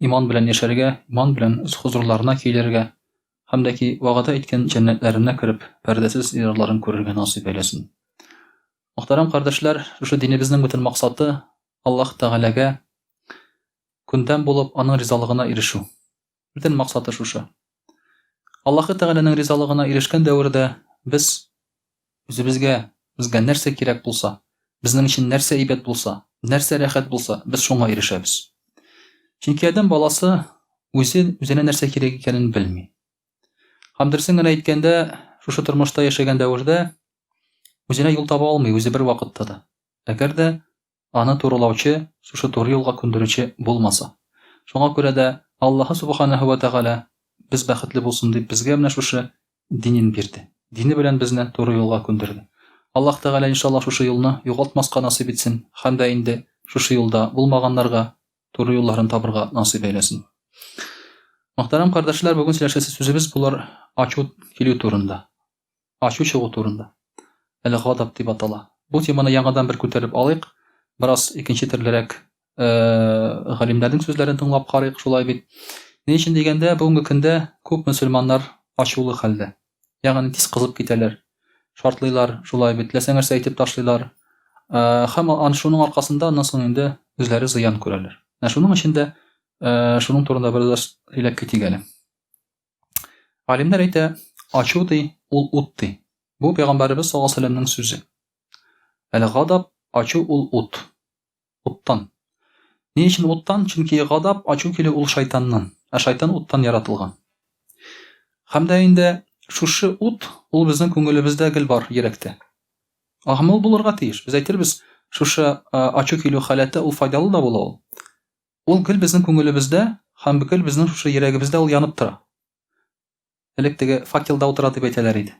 иман белән яшәргә, иман белән үз хозурларына килергә һәм дә ки вәгъдә иткән җәннәтләренә кереп, пәрдәсез диярларын күрергә насыйп әйләсен. Мөхтәрәм кардәшләр, шушы динебезнең бөтен максаты Аллаһ Тәгаләгә күндәм булып, аның ризалыгына ирешү. Бөтен максаты шушы. Аллаһы Тәгаләнең ризалыгына ирешкән дәвердә без Үзебезгә, безгә нәрсә кирәк булса, безнең өчен нәрсә әйбәт булса, нәрсә рәхәт булса, без шуңа ирешәбез. Чөнки адәм баласы үзе үзенә нәрсә кирәк икәнен белми. Һәм дөресен генә әйткәндә, шушы тормышта яшәгән дәвердә үзенә юл таба алмый үзе бер вакытта да. Әгәр дә аны турылаучы, шушы туры юлга күндерүче булмаса. Шуңа күрә дә Аллаһы Субханаһу вә Тәгалә, без бәхетле булсын дип, безгә менә шушы динен бирде. Дине белән безне туры юлга күндерде. Аллаһ Тәгалә, иншаллаһ, шушы юлны югалтмаска насыйп итсен һәм дә инде шушы юлда булмаганнарга туры юлларын табырга насыйп әйләсен. Мөхтәрәм кардәшләр, бүген сөйләшәсе сүзебез булыр ачу килү турында. Ачу чыгу турында. Әле гадап дип атала. Бу теманы яңадан бер күтәреп алыйк. Бераз икенче төрлерәк галимнәрнең сүзләрен тыңлап карыйк, шулай бит. Ни өчен дигәндә, бүгенге көндә күп мөселманнар ачулы хәлдә. Ягъни тиз кызып китәләр. Шартлыйлар, шулай бит, теләсә нәрсә әйтеп ташлыйлар. Һәм ан шуның аркасында аннан соң инде үзләре зыян күрәләр. Менә шуның өчен дә шуның турында бераз сөйләп китик әле. Алимнәр әйтә, ачу ди, ул ут ди. Бу пәйгамбәребез саллаллаһу алейһи вәсәлләмнең сүзе. Әле гадаб, ачу ул ут. Уттан. Ни өчен уттан? Чөнки гадаб, ачу килү ул шайтаннан, ә шайтан уттан яратылган. Һәм дә инде шушы ут ул безнең күңелебездә гел бар, йөрәктә. Агымлы булырга тиеш. Без әйтербез, шушы ачу килү халәте ул файдалы да була ул. Ул гел безнең күңелебездә һәм гел безнең шушы йөрәгебездә ул янып тора. Элек теге факелда утыра дип әйтәләр иде.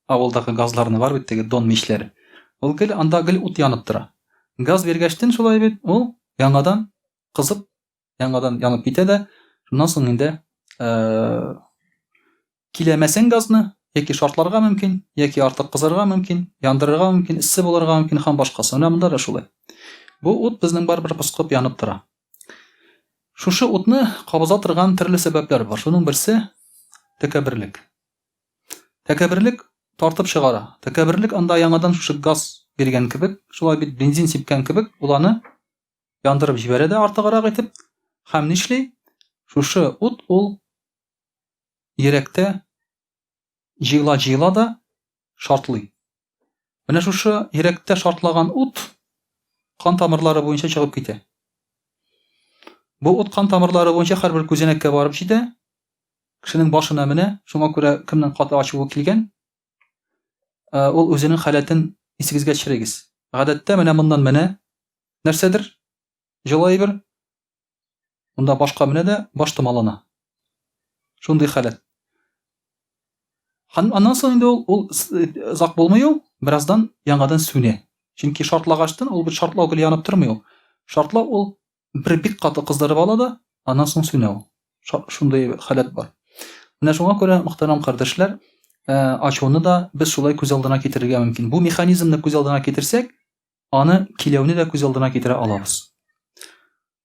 Авылдагы газларны бар бит теге дон мичләре. Ул гел анда гел ут янып тора. Газ биргәчтен шулай бит, ул яңадан кызып, яңадан янып китә дә, шуннан соң инде Киләмәсең газны, яки шартларга мөмкин, яки артык кызырга мөмкин, яндырырга мөмкин, эссе булырга мөмкин һәм башкасы. Менә монда да шулай. Бу ут безнең барыбер поскып янып тора. Шушы утны кабыза торган төрле сәбәпләр бар. Шуның берсе тәкәбберлек. Тәкәбберлек тартып чыгара. Тәкәбберлек анда яңадан шушы газ биргән кебек, шулай бит бензин сипкән кебек, ул аны яндырып җибәрә дә артыграк итеп. Һәм нишли? Шушы ут ул йөрәктә җыела-җыела да шартлый. Менә шушы йөрәктә шартлаган ут кан тамырлары буенча чыгып китә. Бу ут кан тамырлары буенча һәрбер күзәнәккә барып җитә, кешенең башына менә, шуңа күрә кемнең каты ачуы килгән, э, ул үзенең халәтен исегезгә төшерегез. Гадәттә менә моннан менә нәрсәдер җылы әйбер Монда башка менә дә баш томалана. Шундый халәт. Һәм аннан соң инде ул ул озак булмый ул, бераздан яңадан сүнә. Чөнки шартлагачтан ул бит шартлау гел янып тормый ул. Шартлау ул бер бик каты кыздырып ала да, аннан соң сүнә ул. Шундый халәт бар. Менә шуңа күрә, мөхтәрәм кардәшләр, ачуны да без шулай күз алдына китерергә мөмкин. Бу механизмны күз алдына китерсәк, аны киләүне дә күз алдына китерә алабыз.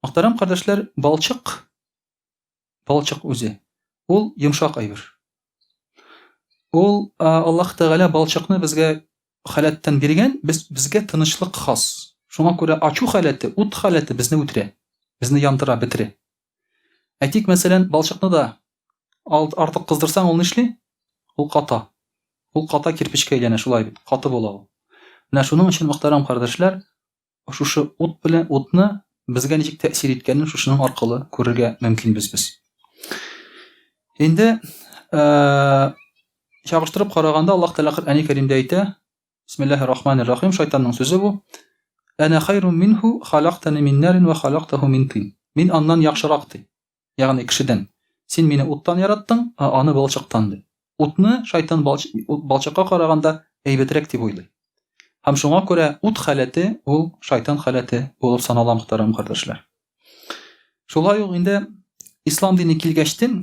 Мөхтәрәм кардәшләр, балчык балчык үзе ул йомшак әйбер. Ул Аллаһ Тәгалә балчыкны безгә халәттән биргән, без безгә тынычлык хас. Шуңа күрә ачу халәте, ут халәте безне үтерә, безне яндыра, бетерә. Әйтик, мәсәлән, балчыкны да артык кыздырсаң, ул нишли? Ул ката. Ул ката кирпечкә әйләнә, шулай бит, каты була ул. Менә шуның өчен, мөхтәрәм кардәшләр, шушы ут белән утны безгә ничек тәэсир иткәнен шушының аркылы күрергә мөмкинбез без. Инде чагыштырып караганда Аллаһ Тәгалә Коръәни Кәримдә әйтә, Бисмиллахи рахмани рахим шайтанның сүзе бу. Әнә хайру минху халактани мин нарин ва халактаху мин тин. Мин аннан яхшырак ди. Ягъни кешедән. Син мине уттан яраттың, а аны балчыктан ди. Утны шайтан балчыкка караганда әйбәтрәк дип уйлый. Һәм шуңа күрә ут халәте ул шайтан халәте булып санала мөхтәрәм кардәшләр. Шулай ук инде ислам дине килгәчтен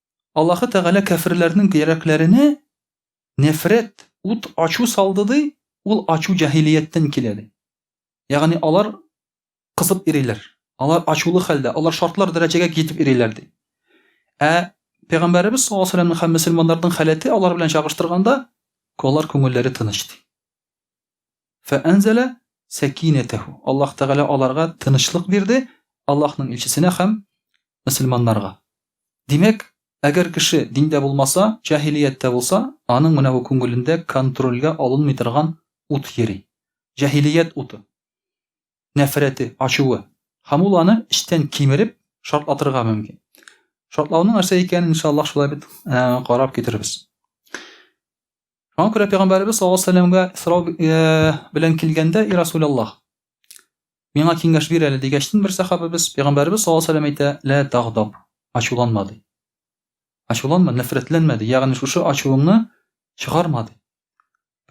Аллаһы Тәгалә кәферләрнең йөрәкләренә нәфрәт, ут, ачу салды ди, ул ачу җәһилияттән килә ди. Ягъни алар кызып ириләр. Алар ачулы хәлдә, алар шартлар дәрәҗәгә китеп ириләр ди. Ә Пәйгамбәребез саллаллаһу алейһи ва сәлләмнең һәм мөселманнарның халәте алар белән чагыштырганда, алар күңелләре тыныч ди. Фәәнзәлә сәкинәтәһү. Аллаһ Тәгалә аларга тынычлык бирде, Аллаһның илчесенә һәм мөселманнарга. Димәк, әгәр кеше диндә булмаса, җаһилияттә булса, аның менә бу күңелендә контрольгә алынмый торган ут йөри. Җаһилият уты. Нәфрәте, ачуы. Һәм ул аны эчтән кимереп, шартлатырга мөмкин. Шартлауның нәрсә икәнен, иншаллаһ, шулай бит, карап китербез. Шуңа күрә пәйгамбәребез саллаллаһу алейһи вәсәлләмгә сорау э, белән килгәндә, "И Расуляллаһ, миңа киңәш бир әле" дигәчтен бер сахабыбыз пәйгамбәребез саллаллаһу алейһи вәсәлләм әйтә, "Лә тагдаб, ачуланма" ди. Ачуланма, нәфрәтләнмә ди. Ягъни шушы ачуыңны чыгарма ди.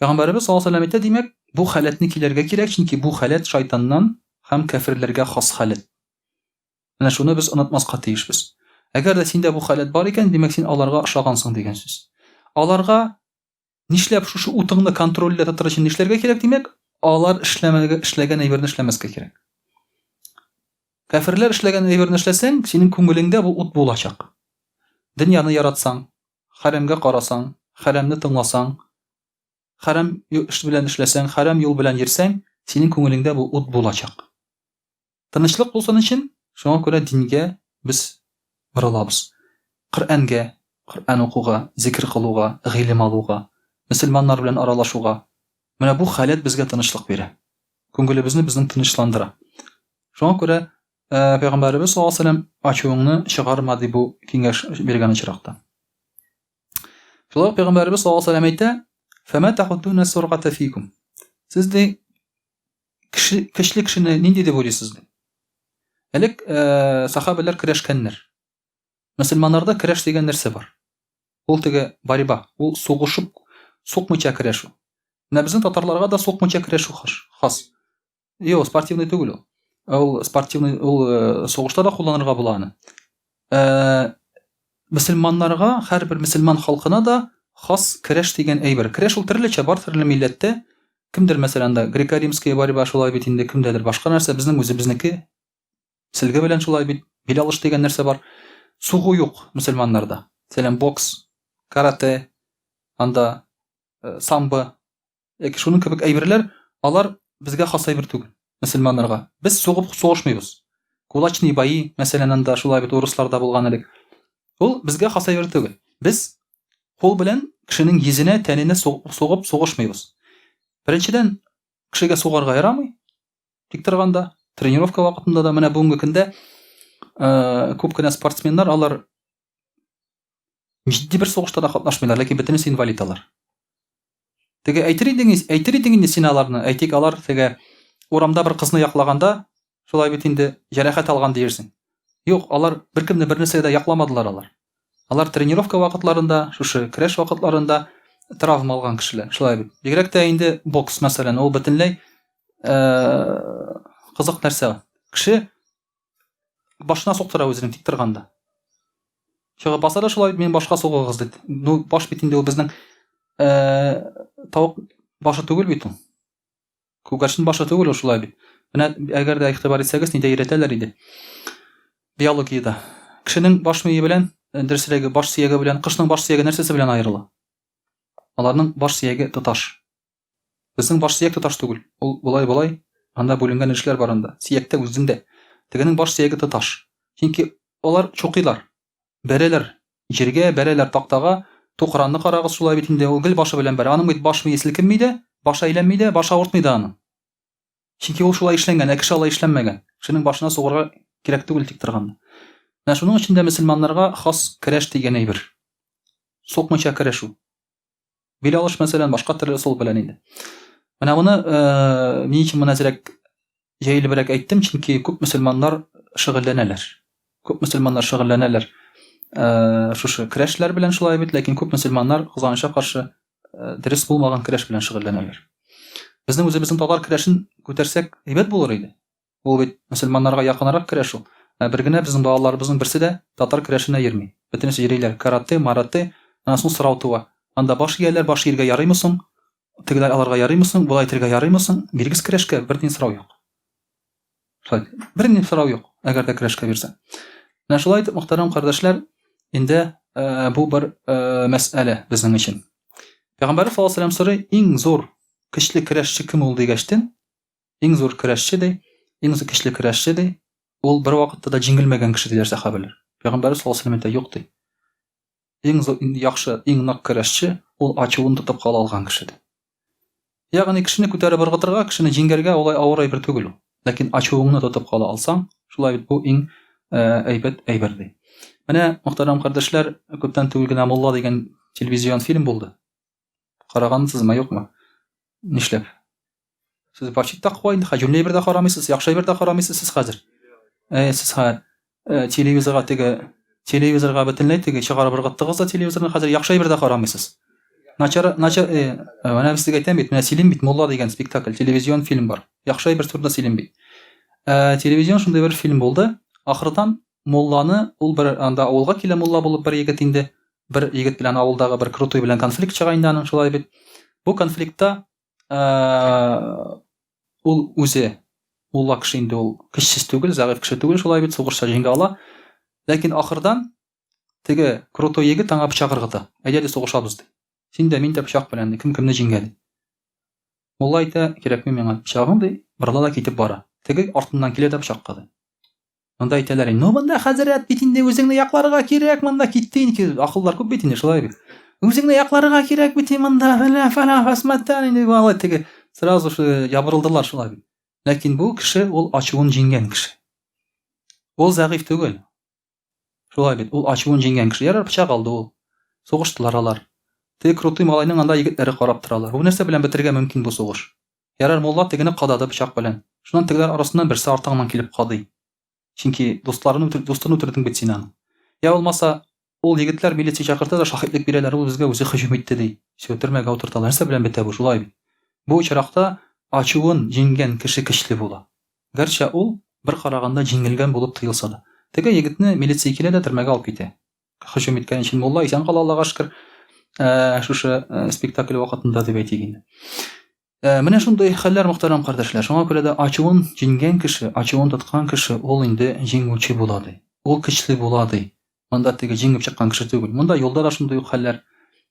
Пәйгамбәребез саллаллаһу алейһи вәсәлләм әйтә, димәк, бу халәтне килергә кирәк, чөнки бу халәт шайтаннан һәм кәфирләргә хас халәт. Менә шуны без онытмаска тиешбез. Әгәр дә синдә бу халәт бар икән, димәк син аларга ошагансың дигән сүз. Аларга нишләп шушы утыңны контрольдә тотыр өчен нишләргә кирәк, димәк, алар эшләмәгә эшләгән әйберне эшләмәскә кирәк. Кәферләр эшләгән әйберне эшләсәң, синең күңелеңдә бу ут булачак. Дөньяны яратсаң, хәрәмгә карасаң, хәрәмне тыңласаң, хәрәм эш белән эшләсәң, хәрәм юл белән йөрсәң, синең күңелеңдә бу ут булачак. Тынычлык булсын өчен, шуңа күрә дингә без борылабыз. Коръәнгә, Коръән укуга, зикер кылуга, гыйлем алуга, мөселманнар белән аралашуга. Менә бу халәт безгә тынычлык бирә. Күңелебезне безнең тынычландыра. Шуңа күрә Пәйгамбәребез саллаллаһу алейһи вәсәлләм ачуыңны чыгарма ди бу киңәш биргән очракта. Шулай ук Пәйгамбәребез саллаллаһу алейһи вәсәлләм әйтә, Сез ди Кеше, көчле кешене нинди дип уйлыйсыз? Элек э, сахабәләр көрәшкәннәр. Мөселманнарда көрәш дигән нәрсә бар. Ул теге борьба, ул сугышып, сукмыча көрәшү. Менә безнең татарларга да сукмыча көрәшү хаш, хас. Йо, спортивный түгел ул. Ул спортивный, ул э, сугышта да кулланырга була аны. Ә, мөселманнарга, һәрбер мөселман халкына да хас көрәш дигән әйбер. Көрәш ул төрлечә, бар төрле милләттә. Кемдер, мәсәлән, да греко-римская борьба шулай бит инде, кемдәдер башка нәрсә, безнең үзебезнеке селге белән шулай бит, бил алыш дигән нәрсә бар. Сугу юк мөселманнарда. Мәсәлән, бокс, карате, анда э, самбо, яки шуның кебек әйберләр, алар безгә хас әйбер түгел, мөселманнарга. Без сугып сугышмыйбыз. Кулачный баи, мәсәлән, анда шулай бит урысларда булган элек. Ул безгә хас әйбер түгел. Без кул белән кешенең йөзенә, тәненә сугып сугышмыйбыз. Беренчедән, кешегә сугарга ярамый. Тик торганда, тренировка вакытында да менә бүгенге көндә э, күп кенә спортсменнар алар Җитди бер сугышта да катнашмыйлар, ләкин бөтенесе инвалид алар. Теге әйтер идең, әйтер идең инде син аларны, әйтик алар теге урамда бер кызны яклаганда, шулай бит инде җәрәхәт алган диерсең. Юк, алар беркемне бернәрсә дә якламадылар алар. Алар тренировка вакытларында, шушы көрәш вакытларында травма алган кешеләр, шулай бит. Бигрәк тә инде бокс мәсәлән, ул бөтенләй э, кызык нәрсә. Кеше башына суктыра үзенең тик торганда чыгып баса да шулай мин башка сугыгыз дип ну баш бит инде ул безнең тавык башы түгел бит ул күгәрчен башы түгел ул шулай бит менә әгәр дә игътибар итсәгез нидә өйрәтәләр иде биологиядә кешенең баш мие белән дөресрәге баш сөяге белән кошның баш сөяге нәрсәсе белән аерыла аларның баш сөяге тоташ Безнең баш сөяк тоташ түгел. Ул болай, болай, анда бүленгән өлешләр бар анда, сөяктә, үзендә. Тегенең баш сөяге тоташ. Чөнки алар чукыйлар. Бәрәләр җиргә, бәрәләр тактага. Тукранны карагыз, шулай бит инде, ул гел башы белән бәрә. Аның бит баш-мие селкенми дә, башы әйләнми дә, башы авыртмый да аның. Чөнки ул шулай эшләнгән, ә кеше алай эшләнмәгән. Кешенең башына сугырга кирәк түгел тик торганны. Менә шуның өчен дә мөселманнарга хас керәш дигән әйбер. Сукмыйча керәшү. Бел алыш мәсәлән башка төрле ысул белән инде. Менә моны э, ни өчен мөнәзрәк җәелебрәк әйттем, чөнки күп мөселманнар шөгыльләнәләр. Күп мөселманнар шөгыльләнәләр э, шушы көрәшләр белән шулай бит, ләкин күп мөселманнар Хуҗаныча каршы э, дөрес булмаган көрәш белән шөгыльләнәләр. Безнең үзебезнең татар көрәшен күтәрсәк әйбәт булыр иде. Ул бит мөселманнарга якынрак керә шул. Ә бер генә безнең балаларыбызның берсе дә татар көрәшенә йөрми. Бөтенесе йөриләр карате, марате. Аннан соң сорау туа. Анда баш ияләр, баш ияргә ярыймы соң? Тегеләр алырга ярыймы соң? Болай итәргә ярыймы соң? Бирегез көрәшкә, бер тин сорау юк. Шулай. Бер ни сорау юк, әгәр дә көрәшкә бирсә. Менә шулай итеп, мөхтәрәм кардәшләр, инде э, бу бер э, мәсьәлә безнең өчен. Пәйгамбәрбез саллаллаһу алейһи ва сәлләм сорый, иң зур көчле көрәшче кем ул дигәчтен, Иң зур көрәшче ди, иң зур көчле көрәшче ди, ул бер вакытта да җиңелмәгән кеше диләр сахабәләр. Пәйгамбәр саллаллаху алейһи ва юк ди. Иң зур иң яхшы, иң нык көрәшче ул ачуын тотып кала алган кеше ди. Ягъни кешене күтәреп ыргытырга, кешене җиңгәргә улай авыр әйбер түгел ул. Ләкин ачуыңны тотып кала алсаң, шулай бит бу иң э, әйбәт әйбер ди. Менә, мөхтәрәм кардәшләр, күптән түгел генә Мулла дигән телевизион фильм булды. Карагансызмы, юкмы? Нишләп? Сез почти таква инде, хаҗүлле әйбер дә карамыйсыз, яхшы әйбер дә карамыйсыз сез хәзер. Ә сез ха э, телевизорга теге телевизорга бөтенләй теге чыгарып ыргыттыгыз да телевизорны хәзер яхшы әйбер дә карамыйсыз. Начар начар э, менә без сезгә әйтәм бит, менә сөйлим бит, Мулла дигән спектакль, телевизион фильм бар. Яхшы әйбер турында сөйлим бит. Ә телевизион шундый бер фильм булды. Ахырдан Мулланы ул бер анда авылга килә Мулла булып бер егет инде. бер егет белән авылдагы бер крутой белән конфликт чыга инде аның шулай бит бу конфликтта ул үзе улла кеше инде ул көчсез түгел зәгыйфь кеше түгел шулай бит сугышта җиңә ала ләкин ахырдан теге крутой егет аңа пычак ыргыта әйдә ди сугышабыз ди син дә мин дә пычак белән ди кем кемне җиңә ди мулла әйтә кирәкми миңа пычагың ди борыла да китеп бара теге артыннан килә дә пычакка ди Монда әйтәләр, ну монда хәзрәт бит инде үзеңне якларга кирәк, монда китте инде. Акыллар күп бит инде шулай бит. Үзеңне якларга кирәк бит монда. Фәлә фәлә фәсмәттән инде алай теге сразу же ябырылдылар шулай бит. Ләкин бу кеше ул ачуын җиңгән кеше. Ул зәгыйфь түгел. Шулай бит, ул ачуын җиңгән кеше. Ярар пычак алды ул. Сугыштылар алар. Теге крутой малайның анда егетләре карап торалар. Бу нәрсә белән бетерергә мөмкин бу сугыш? Ярар мулла тегене кадады пычак белән. Шуннан тегеләр арасыннан берсе артыгыннан килеп кадый. Чөнки дусларын үтер, дустын үтердең бит син аның. Я булмаса, ул егетләр милиция чакырта да шаһитлек бирәләр, ул безгә үзе һөҗүм итте ди. Все, төрмәгә утырталар. Нәрсә белән бетә бу, шулай бит. Бу очракта ачуын җиңгән кеше көчле була. Гәрчә ул, бер караганда, җиңелгән булып тоелса да. Теге егетне милиция килә дә төрмәгә алып китә. һөҗүм иткән өчен мулла исән кала аллага шөкер э, шушы э, спектакль вакытында дип әйтик инде э, менә шундый хәлләр мөхтәрәм кардәшләр шуңа күрә дә ачуын җиңгән кеше ачуын тоткан кеше ул инде җиңүче була ди ул көчле була ди монда теге җиңеп чыккан кеше түгел монда юлда да шундый ук хәлләр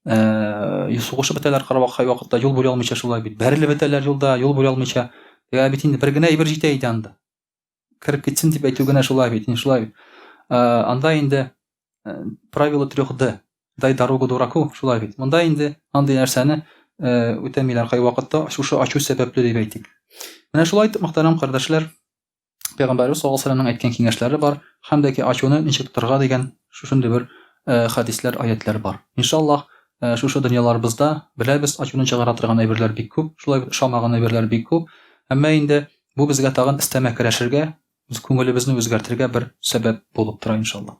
сугышып бетәләр кырвакай вакытта юл бүлә алмыйча шулай бит бәрелеп бетәләр юлда юл бүлә алмыйча ә бит инде бер генә әйбер җитә иде анда кереп китсен дип әйтү генә шулай бит, шулай бит. Э, анда инде э, правило трех Д, дай дорогу дураку, шулай бит. Монда инде андый нәрсәне э, үтәмиләр кай вакытта, шушы ачу сәбәпле дип әйтик. Менә шулай итеп, мөхтәрәм кардәшләр, Пәйгамбәрбез саллаллаху алейһи ва әйткән киңәшләре бар, һәм дә ки ачуны ничек тотарга дигән шушындый бер э, хәдисләр, аятлар бар. Иншаллаһ, э, шушы дөньяларыбызда беләбез, ачуны чыгара торган әйберләр бик күп, шулай ошамаган әйберләр бик күп. Әмма инде Бу безгә тагын өстәмә көрәшергә, үз күңелебезне үзгәртергә бер сәбәп булып тора, иншалла.